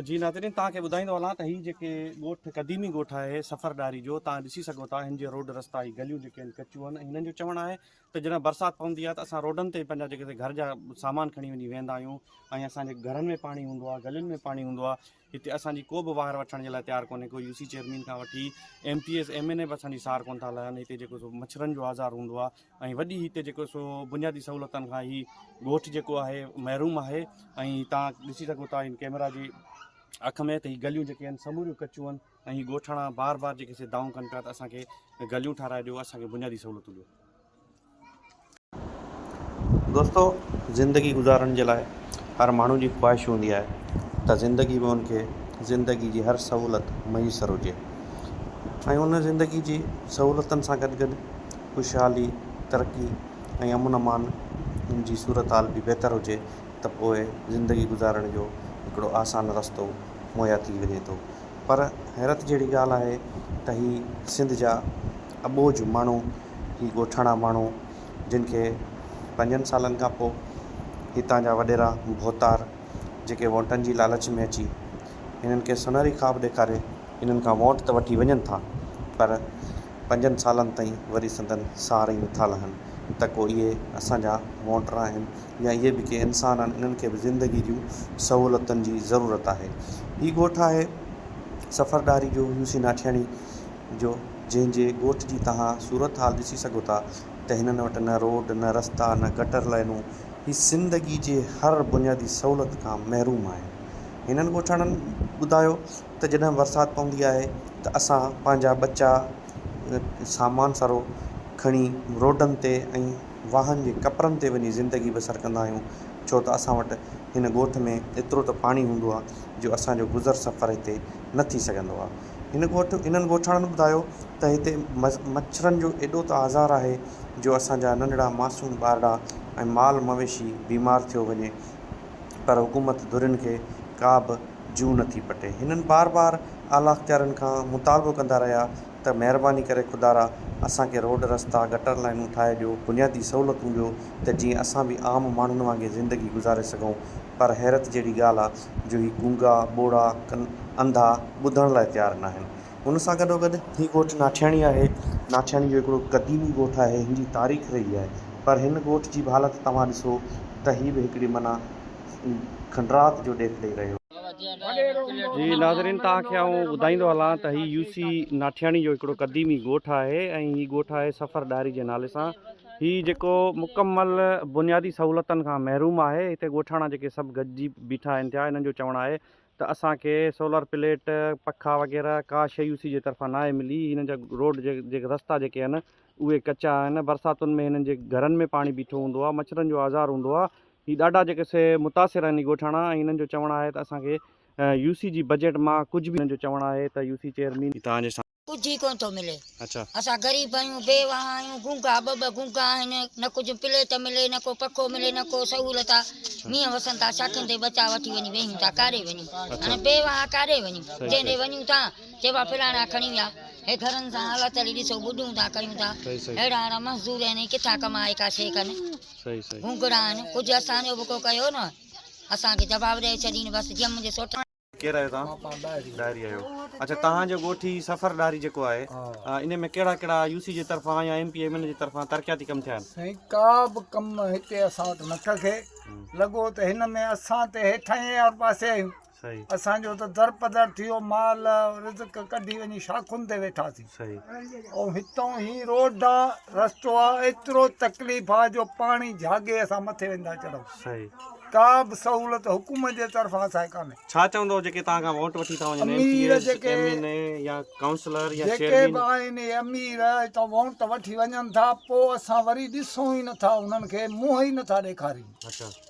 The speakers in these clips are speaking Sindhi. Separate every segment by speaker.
Speaker 1: جي ناظرين توهان کي ٻڌائيندو هلان ته هي جيڪي ڳوٺ قديمي ڳوٺ آهي سفر ڏاهري جو توهان ڏسي سگهو ٿا هن جي روڊ رستا هي گليون جيڪي آهن ڪچيون آهن ۽ هنن جو چوڻ آهي ته جڏهن برسات پوندي آهي ته اسان روڊن تي پنهنجا جيڪي گهر جا سامان کڻي وڃي ويهندا آهيون ۽ اسان جي گهرن ۾ پاڻي هوندو آهي گلين ۾ پاڻي هوندو آهي هتي اسان جي ڪو به واهر وٺڻ جي لاء تيار ڪونهي ڪو يو سي چيئرمين کان وٺي M P S M N A به اسان جي سار ڪون ٿا لهن هتي جيڪو مڇرن جو آزار هوندو آهي ۽ وڏي هتي جيڪو سو بنيادي سهولتن کان هي ڳوٺ جيڪو آهي محروم آهي ۽ تان ڏسي سگهو ٿا ان ڪيمرا جي اک ۾ ته هي گليون جيڪي آهن سموريون ڪچيون آهن ۽ هي ڳوٺاڻا بار بار جيڪي سي دائون ڪن پيا ته اسان کي گليون ٺاهرائي ڏيو اسان کي بنيادي سهولتون ڏيو. دوستو زندگي گذارڻ جي لاء هر ماڻهو جي خواهش هوندي آهي ته زندگي ۾ ان کي زندگي جي هر سهولت ميسر هجي ۽ ان زندگي جي سهولتن سان گڏ گڏ خوشحالي، ترقي ۽ امن امان جي صورتحال به بهتر هجي ته پوء زندگي گذارڻ جو هڪڙو آسان رستو مهيا ٿي وڃي ٿو پر حيرت جهڙي ڳالهه آهي ته هي سنڌ جا اٻوجهه ماڻهو هي ڳوٺاڻا ماڻهو جن کي پنجن سالن کان پوء هتان جا وڏيرا ڀوتار جيڪي ووٽن جي لالچ ۾ اچي هنن کي سونهري خواب ڏيکاري هنن کان ووٽ ته وٺي وڃن ٿا پر پنجن سالن تائين وري سندن سار ئي نٿا لهن ته ڪو اهي اسان جا ووٽر آهن يا اهي به ڪي انسان آهن انهن کي به زندگي جون سهولتن جي ضرورت آهي هي ڳوٺ آهي سفر ڏاهري جو يوسي ناٺياڻي جو جنهن جي ڳوٺ جي توهان صورت حال ڏسي سگهو ٿا ته هنن وٽ نه روڊ نه رستا نه گٽر لائنون هي زندگي جي هر بنيادي سهولت کان محروم آهن هنن ڳوٺاڻن ٻڌايو ته جڏهن برسات پوندي آهي ته اسان پنهنجا ٻچا سامان سارو کڻي روڊن تي ۽ واهن جي ڪپرن تي وڃي زندگي بسر ڪندا آهيون ڇو ته اسان وٽ هن ڳوٺ ۾ ايترو ته پاڻي هوندو آهي جو اسان جو گذر سفر هتي نه ٿي سگهندو آهي هن ڳوٺ انهن ڳوٺاڻن ٻڌايو ته هتي مڇرن جو ايڏو ته آزار آهي جو اسان جا ننڍڙا معصوم ٻارڙا ۽ مال مويشي بيمار ٿيو وڃي پر حڪومت ڌرين کي ڪا به جون نٿي پٽي. هنن بار بار اعليٰ اختيارين کان مطالبو ڪندا رهيا ته مهرباني ڪري خدارا اسان کي روڊ رستا، گٽر لائينون ٺاهي ڏيو، بنيادي سهولتون ڏيو ته جيئن اسان به عام ماڻهن وانگي زندگي گذاري سگهون پر حيرت جهڙي ڳالهه آ جو هي گونگا، ٻوڙا، ڪن، انڌا، ٻڌڻ لاء تيار ناهن. هن سان گڏوگڏ. هي ڳوٺ ناٺياڻي آهي. ناٺياڻي جو هڪڙو قديمي ڳوٺ آهي. هن جي تاريخ رهي آهي پر هن ڳوٺ جي به حالت توهان ڏسو ته هي به هڪڙي معنيٰ. کنڊرات جو ڏيک ڏئي رهيو. جي ناظرين توهان کي آئون ٻڌائيندو هلان ته هي يوسي ناٺياڻي جو هڪڙو قديمي ڳوٺ آهي ۽ هي ڳوٺ آهي سفر ڏاهري جي نالي سان هي جيڪو مڪمل بنيادي سهولتن کان محروم آهي هتي ڳوٺاڻا جيڪي سڀ گڏجي بيٺا آهن ٿيا انهن جو چوڻ آهي ته اسان کي سولر پليٽ پکا وغيره ڪا شئي يوسي جي طرفان ناهي ملي هنن جا روڊ جي رستا جيڪي آهن اهي ڪچا آهن برساتن ۾ هنن جي گهرن ۾ پاڻي بيٺو هوندو آهي مڇرن جو آزار هوندو آهي هي ڏاڍا جيڪي سي متاثر آهن هي ڳوٺاڻا ۽ هنن جو چوڻ آهي ته اسان کي يو سي جي بجيٽ مان ڪجهه به هنن جو چوڻ آهي ته يو سي چيئرمين توهان جي سان. ڪجهه ئي ڪونه ٿو ملي
Speaker 2: اسان غريب
Speaker 1: آهيون
Speaker 2: بي واهان آهيون گونگا ٻه ٻه گونگا آهن نه ڪجهه پليٽ ملي نه ڪو پکو ملي نه ڪو سهولت آ مينهن وسن ٿا شاخين تي ٻچا وٺي وڃي ويهيون ٿا ڪاڏي وڃون هاڻي بي واهان ڪاڏي وڃون جنهن ڏي وڃون ٿا چئبو آ فلاڻا کڻي ويا هي گهرن سان حالت هلي ڏسو ٻڏون ٿا ڪيون ٿا اهڙا اهڙا مزدور آهن هي ڪٿان ڪمائي ڪا شي ڪن. گونگڙائن ڪجهه اسان جو به ڪو ڪيو نه اسان کي جواب ڏئي ڇڏين بس جيئن منهنجي سوٽ ڪير آهيو توهان
Speaker 1: ڏاهري آهيو اڇا توهان جو ڳوٺي سفر ڏاهري جيڪو آهي ان ۾ ڪهڙا ڪهڙا يو سي جي طرفان يا M P M N A جي طرفان ترقياتي ڪم ٿيا آهن سائين ڪا به ڪم
Speaker 3: هتي اسان وٽ نه ٿو ٿئي لڳو ته هن ۾ اسان ته هيٺاهين آر پاسي آهيون اسان جو ته
Speaker 1: در
Speaker 3: پدر ٿيو مال رزق ڪڍي وڃي شاخن تي ويٺاسين ۽
Speaker 1: هتان
Speaker 3: هي روڊ ڏانهن رستو آهي ايترو تڪليف آهي جو پاڻي جهاڳي اسان مٿي ويندا چڙهو ڪا
Speaker 1: به
Speaker 3: سهولت حڪومت جي طرفان اسان کي ڪانهي ڇا چوندو جيڪي توهان
Speaker 1: کان ووٽ وٺي ٿا وڃن M P As M N
Speaker 3: A
Speaker 1: يا ڪائونسلر يا چيئرمين جيڪي به آهن امير
Speaker 3: هتان ووٽ ته وٺي وڃن ٿا پوء اسان وري ڏسون ئي نٿا انهن کي منهن ئي نٿا ڏيکاريون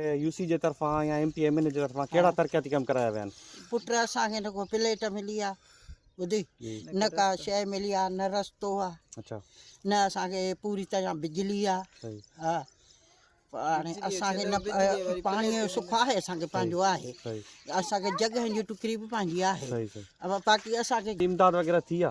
Speaker 1: يو سي جي طرفان يا M P M N A جي طرفان ڪهڙا ترقياتي ڪم ڪرايا ويا آهن؟ پٽ اسان کي نه
Speaker 4: ڪو پليٽ ملي آ ٻڌي نه ڪا شي ملي آ نه رستو آ اچا نه
Speaker 1: اسان کي
Speaker 4: پوري طرح بجلي آ ها پاڻي اسان کي نه پاڻي جو سک آهي اسان کي پنهنجو آهي اسان کي
Speaker 1: جڳهن جي
Speaker 4: ٽڪري به پنهنجي آهي اما باقي
Speaker 1: اسان کي
Speaker 4: امداد وغيره ٿي آ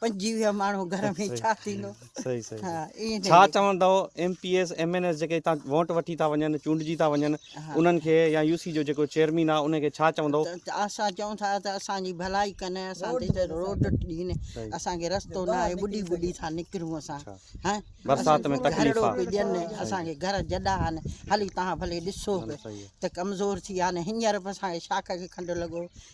Speaker 4: پنجي ويا ماڻهو گهر ۾ ڇا ٿيندو صحيح
Speaker 1: صحيح ڇا
Speaker 4: چوندو
Speaker 1: M P S M N S جيڪي هتان ووٽ وٺي ٿا وڃن چونڊجي ٿا وڃن انهن کي يا يو سي جو جيڪو چيئرمين آ ان کي ڇا چوندو اسان چون ٿا
Speaker 4: ته اسان جي ڀلائي ڪن اسان تي روڊ ڏين اسان کي رستو نه آهي ٻڏي ٻڏي ٿا نڪرون اسان ها برسات ۾
Speaker 1: تڪليف آ ڏين اسان کي
Speaker 4: گهر جڏا آن هلي تان ڀلي ڏسو ته ڪمزور ٿي آ نه هينئر اسان کي شاخ کي کنڊ لڳو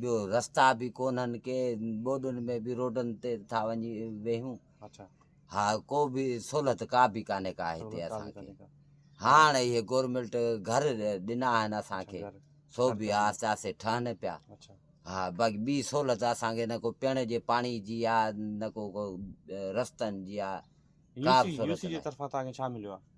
Speaker 5: ٻيو رستا
Speaker 1: به
Speaker 5: ڪونهن ڪي ٻوڏن ۾ به روڊن تي ٿا وڃي ويهون اچھا
Speaker 1: ها ڪو
Speaker 5: به سھولت ڪا به ڪانهي ڪا هتي اسان کي هاڻ اهي گورنمنٽ گهر ڏنا آهن اسان کي سو به آهستي آهستي ٺهن پيا ها
Speaker 1: باقي ٻي
Speaker 5: سهولت اسان کي نه ڪو پيڻ جي پاڻي جي آهي نه ڪو رستن جي آهي ڪا به سهولت
Speaker 1: نه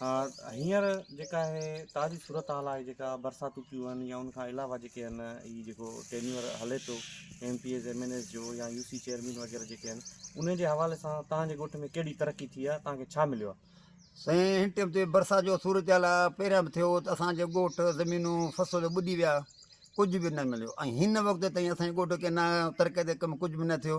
Speaker 1: ها هينئر جيڪا هي تازي صورتحال آهي جيڪا برساتون ٿيون آهن يا ان کان علاوه جيڪي آهن هي جيڪو ٽينيور هلي ٿو M P As M N As جو يا يو سي چيئرمين وغيره جيڪي آهن انهي جي حوالي سان تهان جي ڳوٺ ۾ ڪهڙي ترقي ٿي آهي تهان کي ڇا مليو آهي سائين هن ٽيم
Speaker 3: تي برسات جو صورتحال آ پهريان به ٿيو ته اسان جي ڳوٺ زمينون فصل ٻڏي ويا ڪجهه به نه مليو ۽ هن وقت تائين اسان جي ڳوٺ کي نه ترقي تي ڪم ڪجهه به نه ٿيو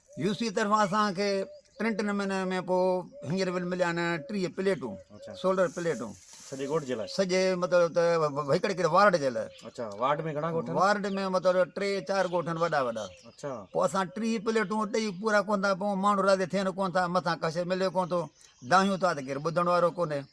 Speaker 1: يو سي طرفان اسان
Speaker 6: کي پرنٽ نموني ۾ پوء هينئر بل مليا آهن ٽيهه پليٽون سولر پليٽون سڄي ڳوٺ جي لاء
Speaker 1: سڄي مطلب ته
Speaker 6: هڪڙي هڪڙي وارڊ جي لاء اچا وارڊ ۾ گهڻا
Speaker 1: ڳوٺ وارڊ ۾ مطلب ٽي
Speaker 6: چار ڳوٺ آهن وڏا وڏا اچا پوء اسان
Speaker 1: ٽيهه
Speaker 6: پليٽون ڏيئي پورا ڪون ٿا پون ماڻهو راضي ٿين ڪون ٿا مٿان ڪا شيء ملي ڪون ٿو دانهيون ٿا ته ڪير ٻڌڻ وارو ڪونهي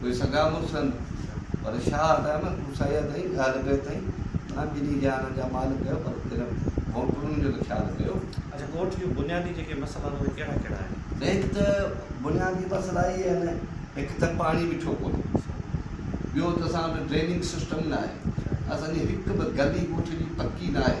Speaker 5: اهي سڳا مڙس هن، پر شاهه هٽايو نه ڪوسائي اٿئي، ڳالهه ڪئي اٿئي، معنيٰ ٻنهي جهانن جا مالڪ ڪيو، پر پھريون ڀونڪڙن جو ته خيال ڪيو. اڇا ڳوٺ جون
Speaker 1: بنيادي جيڪي مسئلا آهن اهي ڪهڙا ڪهڙا آهن؟ نه هڪ ته
Speaker 5: بنيادي مسئلا اهي آهن هڪ ته پاڻي مٺو ڪونهي ٻيو ته اسان وٽ ڊريننگ سسٽم ناهي اسان جي هڪ به گلي ڳوٺ جي پڪي ناهي.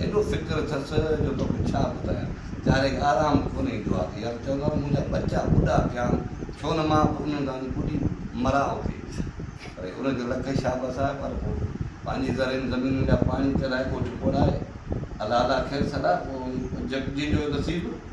Speaker 5: ايڏو فڪر اٿس جو توکي ڇا ٻڌايان. چاري کي آرام ڪونه ايندو آهي ته يا ته چوندا آهن منهنجا ٻچا ٻڏا ٿيان ڇو نه مان به انهن سان وڃي ٻڏي مران اتي. پر ان جو لک شابس آهي پر پوء پنهنجي زرين زمينن جا پاڻي چرائي ڳوٺ ٻوڙائي الا الا خير سڏا پوء جنهن جو نصيب.